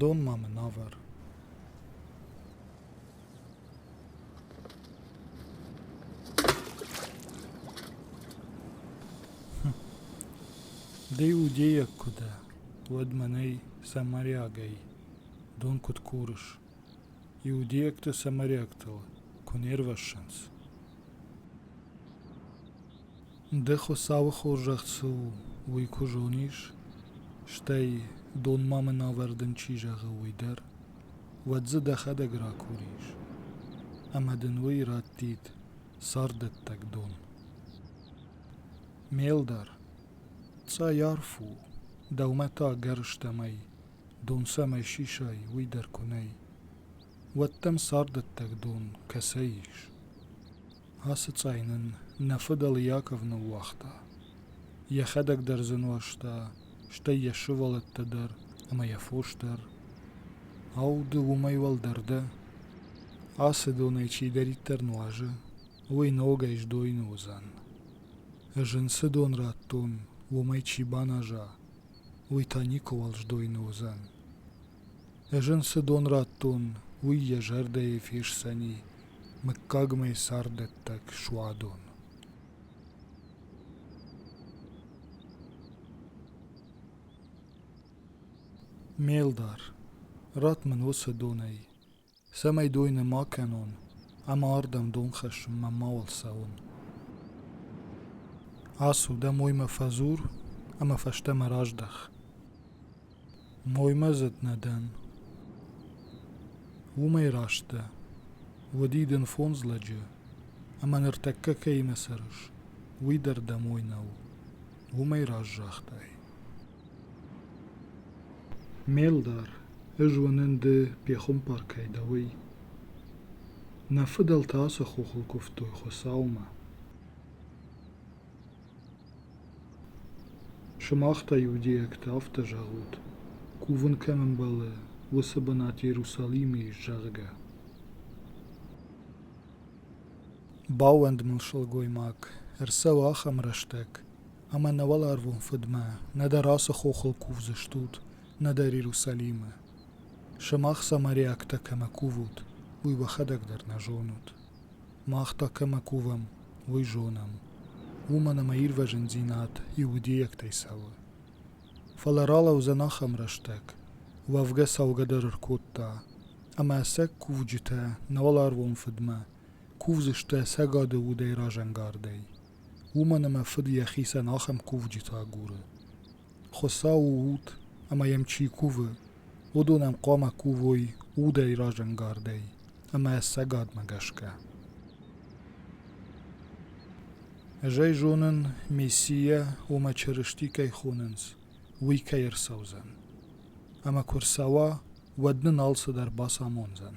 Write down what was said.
Дон ма мын авӕр. Ди удейӕг куы дӕ, уӕд мӕнӕй, самариагӕй, дон куыд курыс? Иудейӕгтӕ самарӕгтыл куы не рвӕссынц. Ды Хуыцауы хорзӕх цы у, уый куы зонис, стӕй, донмӕ мын ӕвӕрдын чи зӕгъы, уый дӕр, уӕд дзы дӕхӕдӕг ракурис, ӕмӕ дын уый раттид царддӕттӕг дон. Ме лдар, цъай арф у, дӕумӕ та гӕрстӕмӕй дон цӕмӕй сисай, уый дӕр куы нӕй, уӕд дӕм царддӕттӕг дон кӕцӕй ис? Ацы цъай нын нӕ фыдӕл Иаков ныууагъта. Йӕхӕдӕг дӕр дзы нуӕзта, стӕй йӕ сывӕллӕттӕ дӕр ӕмӕ йӕ фос дӕр. Ау, ды уымӕй уӕлдӕр дӕ? Ацы донӕй чидӕриддӕр нуазы, уый ногӕй сдойны уыдзӕн. Ӕз ын цы дон радтон, уымӕй чи баназа, уый та никуыуал сдойны уыдзӕн. Ӕз ын цы дон радтон, уый йӕ зӕрдӕйы фесдзӕни мыггагмӕ царддӕттӕг суадон. Ме лдар, ратт мын уыцы донӕй цӕмӕй дойны ма кӕнон ӕмӕ ардӕм дон хӕссын мӕ мауал цӕуын. Ацу, дӕ моймӕ фӕдзур ӕмӕ фӕстӕмӕ раздӕх. Моймӕдзыд нӕ дӕн. Уымӕй раст дӕ. Уыди дын фондз лӕджы, ӕмӕ ныртӕккӕ кӕимӕ цӕрыс, уый дӕр дӕ мой нӕу. Уымӕй раз загътай. Ме лдар, ӕз уынын ды пехуымпаркӕй дӕ, уый. Нӕ фыдӕлтӕ ацы хохыл куывтой Хуыцаумӕ. Сымах та, иудейӕгтӕ, афтӕ зӕгъут, кувын кӕм ӕмбӕлы, уыцы бынат Иерусалимы ис, зӕгъгӕ. Баууӕнд мыл сылгоймаг, ӕрцӕуы ахӕм рӕстӕг, ӕмӕ нӕ уӕларвон Фыдмӕ, нӕдӕр ацы хохыл кувдзыстут, нӕдӕр Иерусалимы. Сымах самариӕгтӕ кӕмӕ кувут, уый уӕхӕдӕг дӕр нӕ зонут. Мах та кӕмӕ кувӕм, уый зонӕм. Уымӕн ӕмӕ ирвӕзындзинад иудейӕгтӕй цӕуы. Фӕлӕ ралӕудзӕн ахӕм рӕстӕг, уӕвгӕ цӕугӕ дӕр ӕркодта, ӕмӕ сӕ кувджытӕ нӕ уӕларвон Фыдмӕ кувдзысты ӕцӕгады удӕй разӕнгардӕй. уымӕн ӕмӕ фыд йӕхицӕн ахӕм кувджыты агуры. Хуыцау у уд, ӕмӕ йӕм чи кувы, уыдон ӕм хъуамӕ кувой удӕй разӕнгардӕй ӕмӕ ӕцӕгадмӕ гӕсгӕ. Ӕз ӕй зонын, Мессийӕ уымӕ Чырысти кӕй хонынц, уый кӕй ӕрцӕудзӕн. Ӕмӕ куы ӕрцӕуа, уӕд нын алцыдӕр бацамондзӕн.